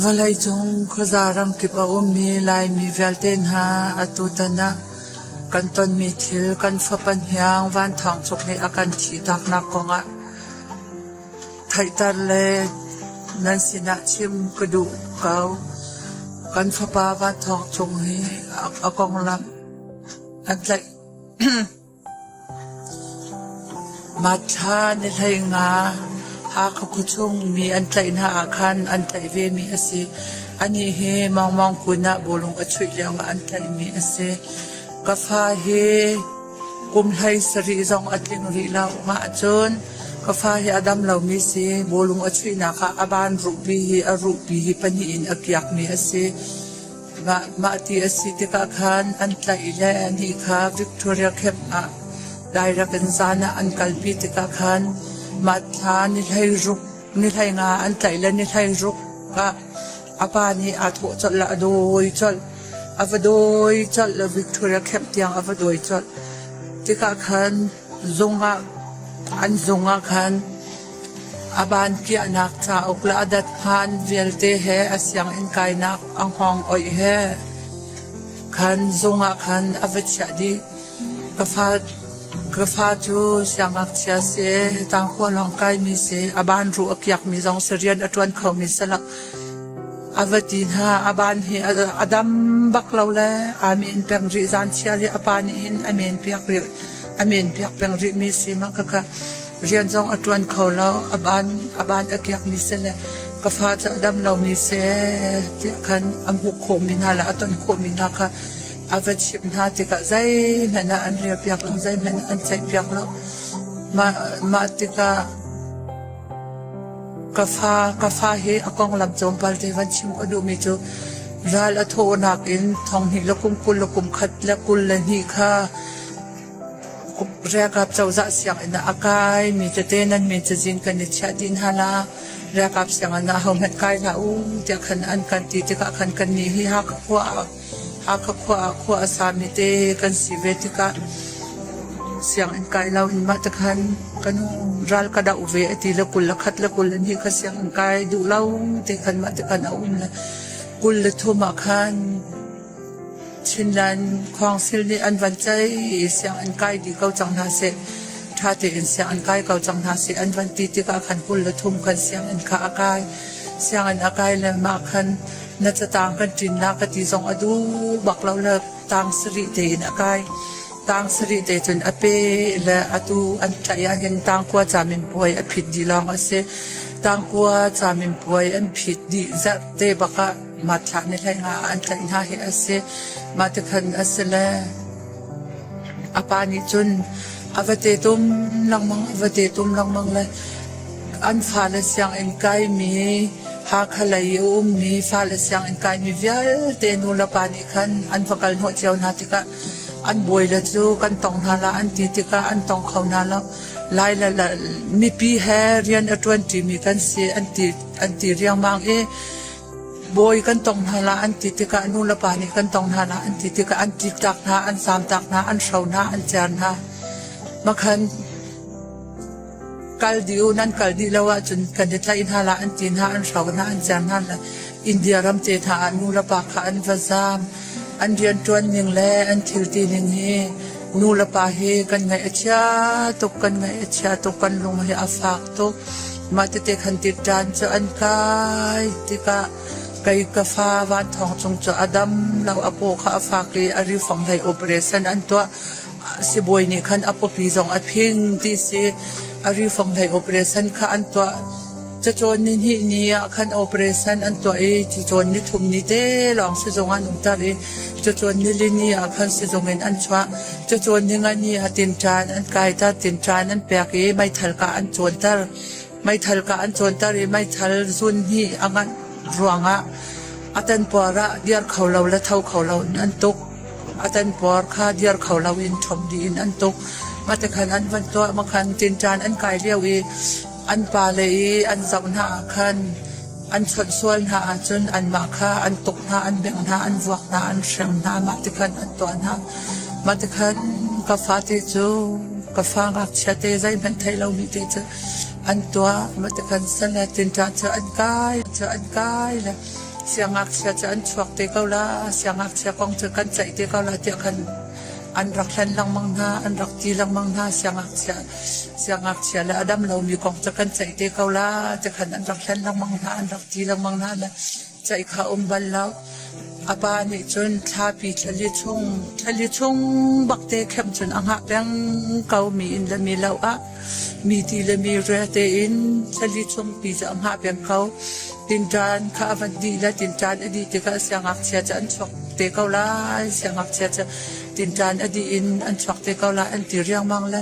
Vawlei cung khuaza ramkip a ummi Laimi vialte hna atutan ah kan tonmi thil kan fapan hiang van thawng tluk nih a kan thihtaknak kongah theihter le nan sinah chim ka duh ko. Kan fapa van thawng cung hi a konglam an tlaih. Mahthla nihlei nga Hakha khuachung mi an tlaih hna ahkhan an tlaih vemi a si. Anih hi Mangmang kun ah bawlung a chuih lioah an tlaihmi a si. Ka fa hi kum hlei sarih zong a tling rih lo. Mah cun ka fa hi a dam lomi si. Bawlung a chuihnak ah a ban ruhpi hi a ruhpi hi pahnih in a kiakmi a si. Mah ti a si tikah khan an tlaih le anih kha Victoria Camp ah direct in zan ah an kalpi tikah khan mah thla ni hleiruk, ni hlei nga an tlaih le ni hleiruk ah a pa nih aa thawh colh le a dawi colh. A va dawi colh, Victoria Camp tiang a va dawi colh. Tikah khan An zung ah khan a ban kiahnak cauk le a dathngan vialte he a sianginn kainak a hngawng-oih he khan zung ah khan a va chiah dih. Ka fa cu siangngakchia si i tangkhua lawng kaimi si i a ban ruh a kiakmi zong si rian a ṭuan khomi salak. A va ti hna. A ban hi a dam bak lo le aa men peng rih. Zan thial hi a pa nih hin a men piak rih. A men piak peng rih mi si ma khakha. Rian zong a tuan kho lo. A ban a ban a kiak mi se le ka fa cu a dam lo mi se tiah khan a hmuh khawh mi hna le a ton khawh mi hna kha a va chimh hna tikah zeihmanh ah an rial piak lo zeihmanh ah an ceih piak lo. Mah mah tikah Ka fa, ka fa hi a konglam tlawmpal te van chim a duhmi cu ral a thawhnak in thawnghnih le kum kul le kum khat le kul le hnih kha Riakap cozah sianginn ah a kai mi tete nan min cazin kan i chiah dih hna la. Riakap sianginn ah hohmanh kai hlah u tiah khan an kan ti tikah khan kannih hi Hakha khua ah Hakha khua ah khua a sami te kan si ve tikah sianginn kai lo in mah tikhan kan ral ka doh ve a ti le kul le khat le kul in hi kha sianginn kai duh lo ti khan mah tikhan a um le kul le thum ah khan Chinland Council nih an van ceih i sianginn kai dih ko cang hna seh ṭha tein sianginn kai ko cang hna seh an van ti tikah khan kul le thum khan sianginn kha a kai sianginn a kai le mah khan na catang kan ṭinnak ka ti zong a duh bak lo na tang sarih tein a kai tang sarih te cun a pe le atu an tlaih ahhin tangkua camin puai a phit dih lawng a si tangkua camin puai an phit dih zarh te bakah matthlah ni hlei nga an tlaih hna hi a si mah te khan a si le a pa nih cun a va te tum lengmang a va te tum lengmang le An fale sianginn kaimi, Hakha lei a ummi fale sianginn kaimi vialte nulepa nih khan an va kal hnawh cio hna tikah an bawile cu kan tong hna la an ti tikah an tong kho hna lo. Lai le la mipi he rian a ṭuanṭimi kan si an ti an ti riangmang i bawi kan tong hna la an ti tikah nulepa nih kan tong hna la an ti tikah an ṭitak hna, an zamtak hna, an hro hna, an cer hna. Makhan Kal dih u, nan kal dih lo ahcun kan i tlaih hna la, an ti hna, an hro hna, an cer hna la. India ram te hna ah nulepa kha an va zaam. An rianṭuan ning le an thilti ning hi nulepa hi kan ngaih a chia tuk, kan ngaih a chia tuk, kan lung hi a fak tuk. Mah tete khan tik ṭaan cu an kai tikah kei ka fa van thong cung cu a dam lo, a paw kha a fak i a ri fong hei up re san an tuah. Sibawi nih khan a pawpi zong a phing ti si. A rifang hlei operation kha an tuah. Cacawn ni hnih ni ah khan operation an tuah i cacawn ni thum ni te lawng sizung an um ter i cacawn ni li ni ah khan sizung in an chuah. Cacawn ni nga ni ah tinṭan an kai ter, tinṭan an pek i meithal kah an cawn ter. meithal kah an cawnter i meithal zun hnih a nganh ruangah a tanpuar ah dir kho lo le tho kho lo in an tuk a tanpuar kha dir kho lo in ṭhawmh dih in an tuk matekhan an van tuah makhan tinṭan an kai lio i an pale i an zoh hna ah khan an chawnh sual hna ahcun anmah kha an tuk hna an bengh hna an vuak hna an hrem hna mah tikhan an tuah hna mah tikhan ka fate cu ka fa ngakchiate zeihmanh thei lomi te cu An tuah. Matakhan san le tinṭah cu an kai cu an kai le siangngakchia cu an chuak te ko la, siangngakchia kong cu kan ceih te ko la tiah khan an rak hlen lengmang hna, an rak ti lengmang hna. Siangngakchia siangngakchia le a dam lomi kong cu kan ceih te ko la, ti khan an rak hlen lengmang hna, an rak ti lengmang hna le Caih kha a um bal lo. A pa nih cun thlapi thlali chung thlali chung bakte khem cun a hngah peng ko mi in le mi lo ah mi ti le mi ria tein thlali chung pi cu a hngah peng ko. Tinṭan kha a van dih le tinṭan a dih tikah siangngakchia cu an chuak te ko lai siangngakchia cu tinṭan a dih in an chuak te ko lai an ti riangmang le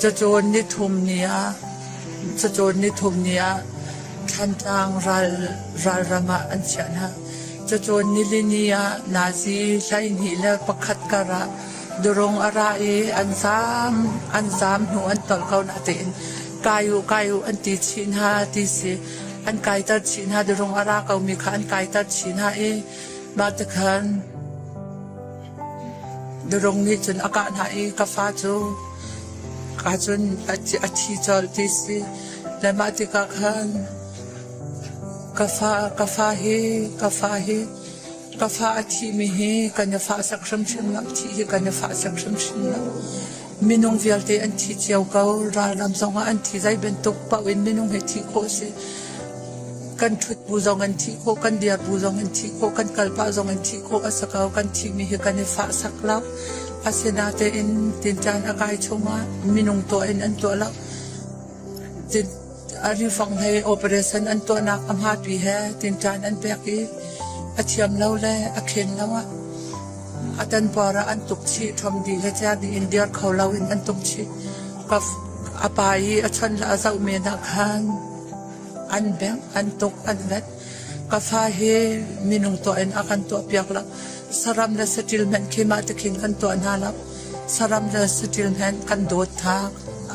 Cacawn nithum ni ah Thantlang ralram ah an chiah hna. Cacawn nilini ah Nazi hleihnih le pakhat kar ah durung a ra i an zaam hnu an tolh ko natein kai-u kai-u an ti chih hna ti si. An kaiter chih hna, durung a ra komi kha an kaiter chih hna i mah tikhan Na rung nih cun a kah hna i ka fa cu ka cun a thi colh ti si. Le mah tikah khan ka fa ka fa hi ka fa hi ka fa a thimi hi kan i fah sak hrimhrim lo, thih hi kan i fah sak hrimhrim lo. Minung vialte an thi cio ko. Ralram zongah an thi. Zei bantuk paoh in minung he thih khawh a si. Kan ṭhut bu zong an thih khawh, kan dir bu zong an thih khawh, kan kalpah zong an thih khawh a si ko. Kan thihmi hi kan i fah sak lo. Asinatein tin caan a kai chung ah minung tuah in an tuah lo. a rifang hei operation an tuahnak a hmapi he tinṭan an pek i a thiam lo le a khen lo ah a tanpuar ah an tuk chih ṭhom dih le tia dih in dir kho lo in an tuk chih ka a pa i a chan le a zoh men ah khan an bengh an tuk an let ka fa hi minung tuah in a kan tuah piak lo saram le saṭil hmanh khi mah te khin kan tuah hna lo Saram le saṭil hmenh kan dawt hna.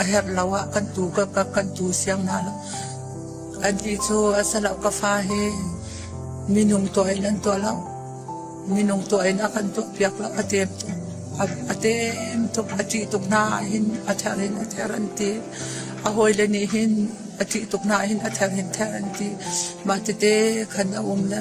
A herh lo ah kan tu ka kap kan tu siang hna lo. Anih cu a si lo ka fa hi minung tuah in an tuah lo. Minung tuah in a kan tuah piak lo. A tem tuk. A tem tuk. A ṭih tuk hna hin a ther in a ther an ti. A hawile nih hin a ṭih tuk hna hin a ther hin ther an ti. Mah tete khan a um le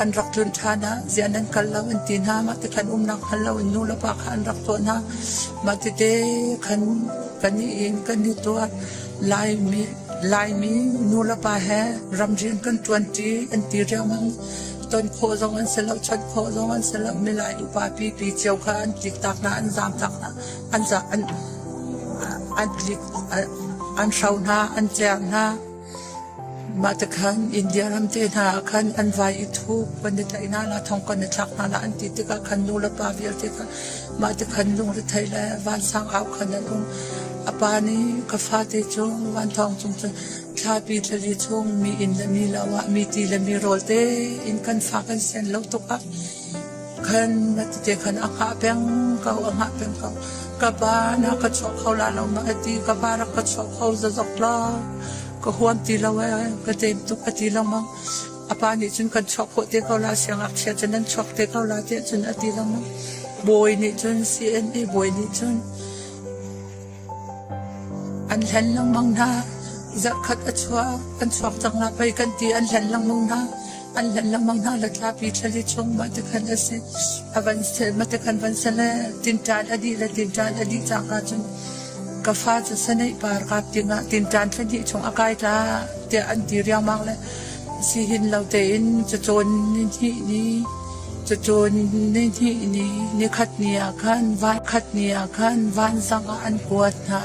An rak tlun ṭhan ah ziah nan kal lo an ti hna. Mah te khan umnak hngal lo in nu le pa kha an rak thawh hna. Mah tete khan kan i in kan i tuah. Laimi, Laimi nu le pa he ram rian kan ṭuanṭi an ti riangmang. Ton khawh zong an si lo, chawnh khawh zong an si lo. Milai upapi pi cio kha an tlik tak hna, an zaam tak hna, an zak an an tlik an hro hna, an cer hna. Mah tikhan India ram te hna ah khan an vai i thuk kan i tlaih hna la, thong kan i thlak hna la an ti tikah khan nu le pa vialte kha mah tikhan lungrethei le vansangau khan an um. A pa nih ka fate cu vanthawng cung cun thlapi thlali chung mi inn le mi lo ah mi ti le mi rawl te in kan fa kan sen lo tuk ah khan a ti te khan a hngah peng ko a hngah peng ko ka pa na ka chuah kho la lo ma a ti ka pa rak ka chuah kho zazok lo ka huam ti lo e ka teim tuk a ti lengmang a pa nih cun kan chuak khawh te ko la siangakchia cun an chuak te ko la tiah cun a ti lengmang bawi nih cun CNA bawi nih cun An hlen lengmang hna. Zarhkhat a chuak. An chuak cang hna pei kan ti. An hlen lengmang hna. An hlen lengmang hna. Le thlapi thlali chung mah te khan a si. A van sel, mah te khan van sel le tinṭan a dih le tinṭan a dih cang ahcun ka fa cu saneih par kap dingah tinṭan thla hnih chung a kai ta tiah an ti riangmang le Sihin lo tein cacawn nihnih ni, cacawn nihnih ni, nikhat ni ah khan, vankhat ni ah khan vansang ah an kuat hna.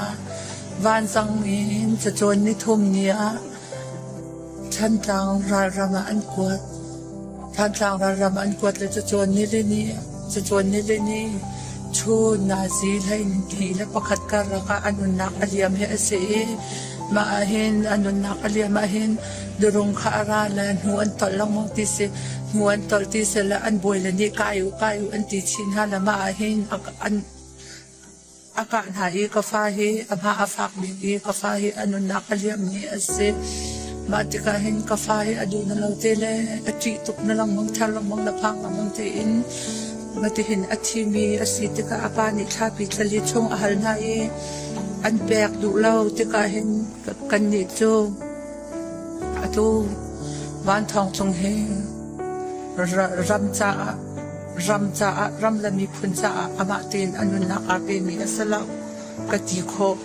Vansang in cacawn nithum ni ah Thantlang ralram ah an kuat. Thantlang ralram ah an kuat le cacawn nili ni, cacawn nili ni chun nazi hlei ni le pakhat karlak ah an nunnak a liam hi a si i mah ah hin an nunnak a liam ah hin Durung kha a ra le hnu an tolh lengmang ti si. Hnu an tolh ti si le an bawi le nih kai u kai u an ti chin hna le mah ahhin an a kah hna i ka fa hi a hma a fak bik i ka fa hi a nunnak a liammi a si. Mah tikah hin ka fa hi a duh na lo te le a ṭih tuk na lengmang thar lengmang le phang lengmang tein matihin a thimi a si tikah a pa nih thlapi thlali chung a hal hna i an pek duh lo tikah hin kannih cu Atu Van Thawng Cung hi ram caah ram caah ram le miphun caah amah tein a nunnak aa pemi a si lo ka ti khawh.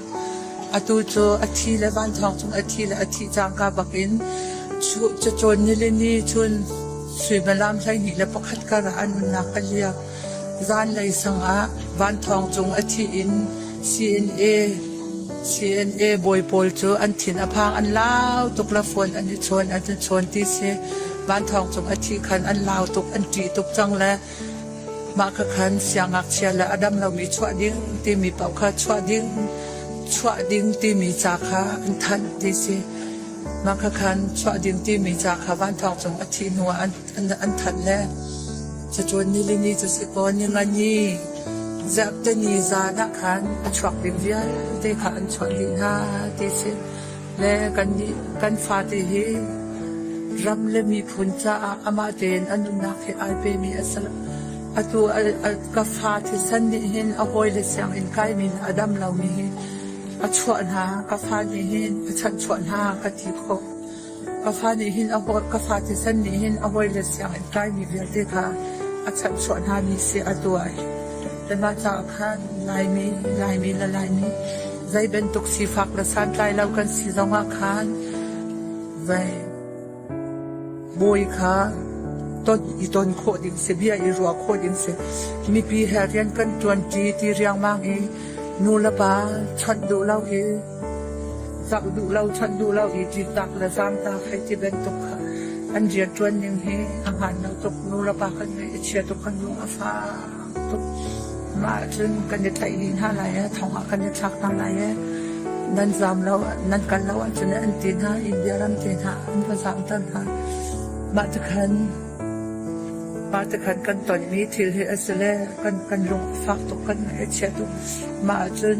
Atu cu a thi le Van Thawng Cung a thi le a thi cangka bakin cu cacawn ni le ni cun suimalam hleihnih le pakhat kar ah a nunnak a liam. Zanlei sangah vanthawng cung a thih in CNA bawi pawl cu an thin a phang. An lau tuk. Lafuan an i chuan, an i chuan ti si. Vanthawng cung a thih khan an lau tuk, an ṭih tuk cang le mah kha khan siangngakchia le a dam lomi chuah ding timi paoh kha chuah ding, chuah ding timi ca kha an thanh ti si. Mah kha khan chuah ding timi ca kha vanthawng cung a thih hnuah an an thanh le cacuan ni le ni cu si kaw ni nga ni ziap te ni zan ah khan a chuak ding vialte kha an chuah dih hna ti si le kan kan fate hi ram le miphun caah amah tein an nunnak he ai pe mi a ser atu ka fa thi san nih hin a hawi le siang in kai min a dam lo mi hi a chuah hna ka fa nih hin a chanh chuah hna ka ti khawh Ka fa nih hin a hawt, ka fa thisen nih hin a hawi le sianginn kaimi vialte kha a chanhchuah hna ni siah a tuai. Kanmah caah khan Laimi, Laimi le Laimi zei bantuk sifak le santlai lo kan si zongah khan vai bawi kha ton i ton khawh ding si bia i ruah khawh ding si mipi he rian kan tuanti ti riangmang i nu le pa chawnh duh lo i Zak duh lo, that duh lo i citak le zamtak hei ti bantuk kha an rianṭuan ning hi a hmaan lo tuk. Nulepa kan ngeih i chia tuk kan lung a fak tuk. Mah ahcun kan i tlaih dih hna lai e, thong ah kan i thlak hna lai e. Nan zaam lo, nan kal lo ahcun an ti hna, India ram te hna an va zaamter hna. Mah tikhan mah tikhan kan tonmi thil hi a si le kan kan lung a fak tuk, kan ngaih a chia tuk. Mah ahcun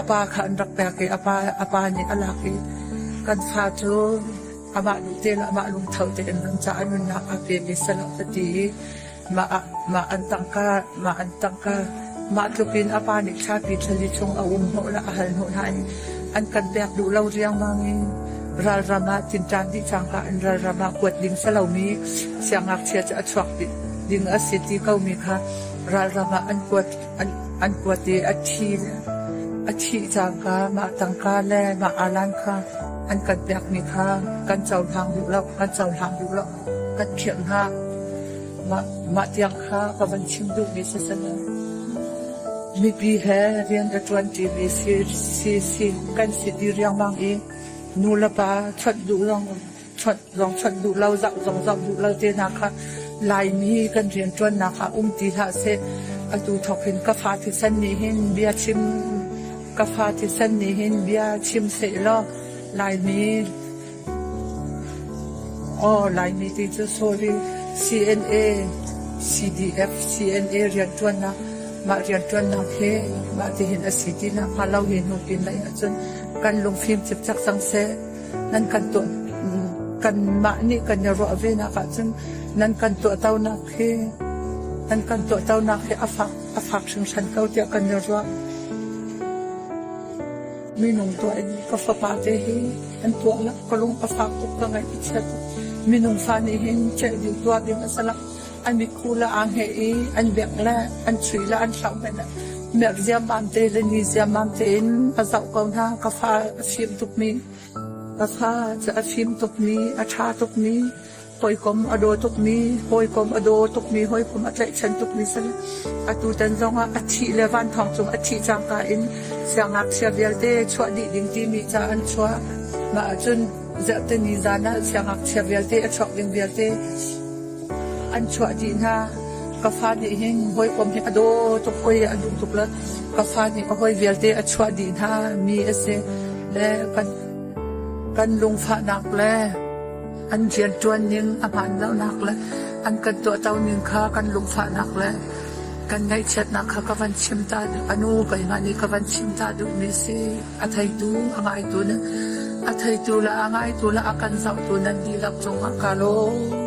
a pa kha an rak pek i a pa, a pa nih a lak i kan fa cu amah lung te le amah lungtho tein an ca an nunnak a pe ve salah ka ti i mah ah mah an tangka mah an tangka mah tlukin a pa nih thlapi thlali chung a um hnawh le a hal hnawh hna i an kan pek duh lo riangmang in ralram ah tinṭan dih cangka in ralram ah kuat ding salomi siangngakchia cu a chuak ding a si ti komi kha ralram ah an kuat An kuat i a ṭhi cangka mah tangka le mah alan kha an kan pekmi kha kan cohlang duh lo, kan cohlang duh lo, kan phirh hna. Mah tiang kha ka van chim duhmi si si lo. Mipi he rian ka ṭuanṭi mi si kan si dih riangmang i nu le pa chawnh duh zong chonh zong chonh duh lo, zoh zong zoh duh lo te hna kha Laimi kan rianṭuannak ah um ti hlah seh. Atu thawk hin ka fa thisen nih hin bia chim, ka fa thisen nih hin bia chim seh law Laimi Oh, Laimi ti cu sorry CNA, CDF, CNA rianṭuannak mah rianṭuannak he mah ti hin a si ti na pha lo hi nu pin lai ahcun kan lungfim cipcak cang seh. nan kan tuah kanmah nih kan i ruah venak ahcun nan kan tuahtonak hi nan kan tuahtonak hi a fak a fak hringhran ko tiah kan i ruah minung tuah in ka fapa te hi an tuah la ka lung a fak tuk ka ngaih i chiat minung fa nih hin cheh ding tuah ding a salak an i khu la aa hngeh i an biak le an chui le an hlauh hmanh merh ziamam te le ni ziamam tein ka zoh ko hna ka fa a fim tukmi ka fa cu a fim tukmi a ṭha tukmi hawikom a daw tukmi hawikom a daw tukmi hawikom a tlaihchan tukmi si atu tan zongah a thih le van thong cung a thih cangka in siangngakchia vialte chuah dih ding timi ca an chuah mah ahcun zarhteni zan ah siangngakchia vialte a chuak ding vialte An chuah dih hna. Ka fa nih hin hawikom hi a daw tuk oi a duh tuk le ka fa nih a hawi vialte a chuah dih hna mi a si le kan kan lungfahnak le an rian ṭuan ning a hmaanlonak le an kan tuahto ning kha kan lungfahnak le kan ngaihchiatnak kha ka van chim ta a nu keimah nih ka van chim ta duhmi si. a theitu a ngaitu le a theitu le a ngaitu le a kan zohtu nan dihlak cungah ka lawm.